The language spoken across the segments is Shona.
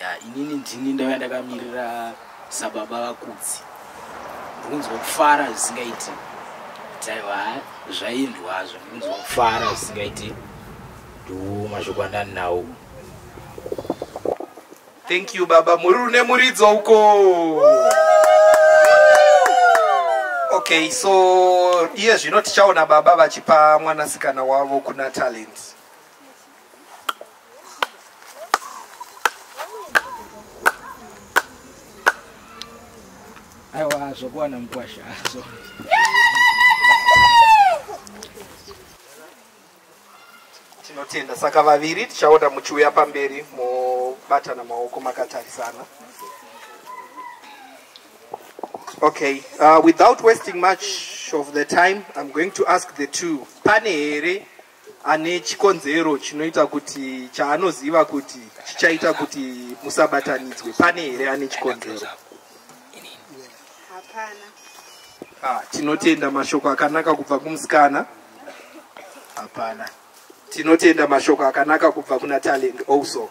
ya inini ndini ndaiva ndakamirira sababa vakudzi ndikunzwa kufara zvisingaiti taiva zvaindwazvo ndikunzwa kufara zvisingaiti ndiwo mashoko andani nawo thank you baba muri rune muridzo uko okay so iye zvino tichaona baba vachipa mwanasikana wavo kuna talent aiwa zvokuwana mukwasha azo tinotenda saka vaviri tichaona muchiuya pamberi mobatana maoko makatarisana okay uh, without wasting much of the time i'm going to ask the two pane here ane chikonzero chinoita kuti chaanoziva kuti chichaita kuti musabatanidzwe pane here ane chikonzero hapana ah, tinotenda mashoko akanaka kubva kumusikana hapana tinotenda mashoko akanaka kubva kuna talent also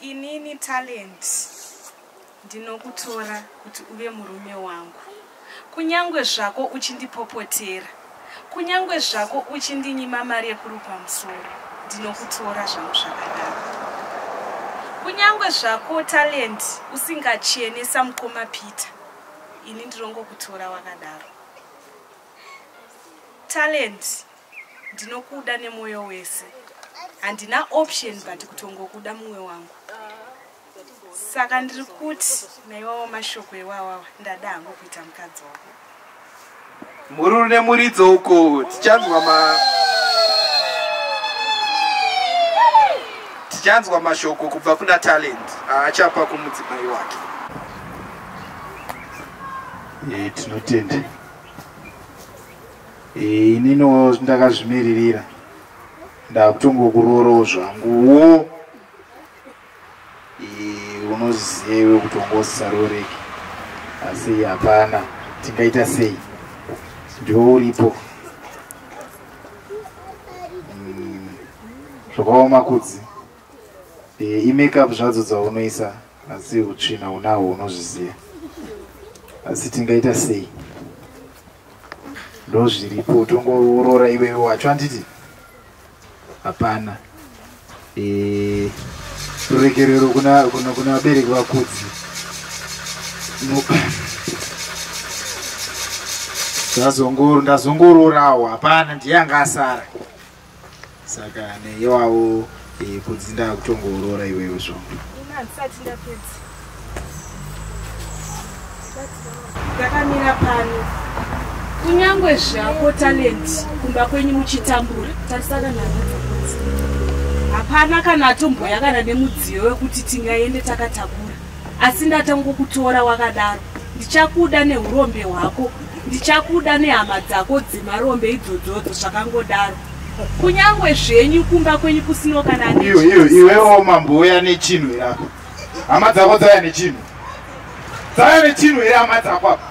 Inini Talent ndinokutora kuti uve murume wangu. Kunyangwe zvako uchindipopotera, kunyangwe zvako uchindinyima mari yekurupa musoro, ndinokutora zvangu zvakadaro. Kunyangwe zvako Talent usingachene samukoma Peter, ini ndinongokutora wakadaro. Talent ndinokuda nemoyo wese handina option but kutongokuda mumwe wangu saka ndiri kuti naiwawo mashoko ewawawa ndada hangu kuita mukadzi wako mhururu nemuridzo uko tichanzwa ma tichanzwa mashoko kubva kuna talent aachapa kumudzimai wake e, tinotenda inino ndakazvimiririra ndakutongokuroorawo zvanguwo unoziva iwe kuti ungosaroreki asi hapana tingaita sei ndiwo uripo mm, zvakaoma kudzi e, imekup zvadzo dzaunoisa asi utsvina unahwo unozviziva asi tingaita sei ndozviripo utongourora iwewe wacho handiti hapana eh, ruregerero kuna vabereki vakudzi ndazongororawo hapana ndiye anga asara saka neiwawo eh, kunzi ndakutongoorora iwewe zvongo handisati ndapedza ndakamira pano kunyange zvako talent kumba kwenyu muchitambura tarisaka nhaaa hapana kana atomboya kana nemudziyo wekuti tingaende takatakura asi ndatangokutora wakadaro ndichakuda neurombe hwako ndichakuda nehama dzako dzimarombe idzodzodzo zvakangodaro kunyange zvenyu kumba kwenyu kusino kana iwewo mambo uya nechinhu irako hama dzako dzaya nechinhu dzaya nechinhu iri hama dzako apa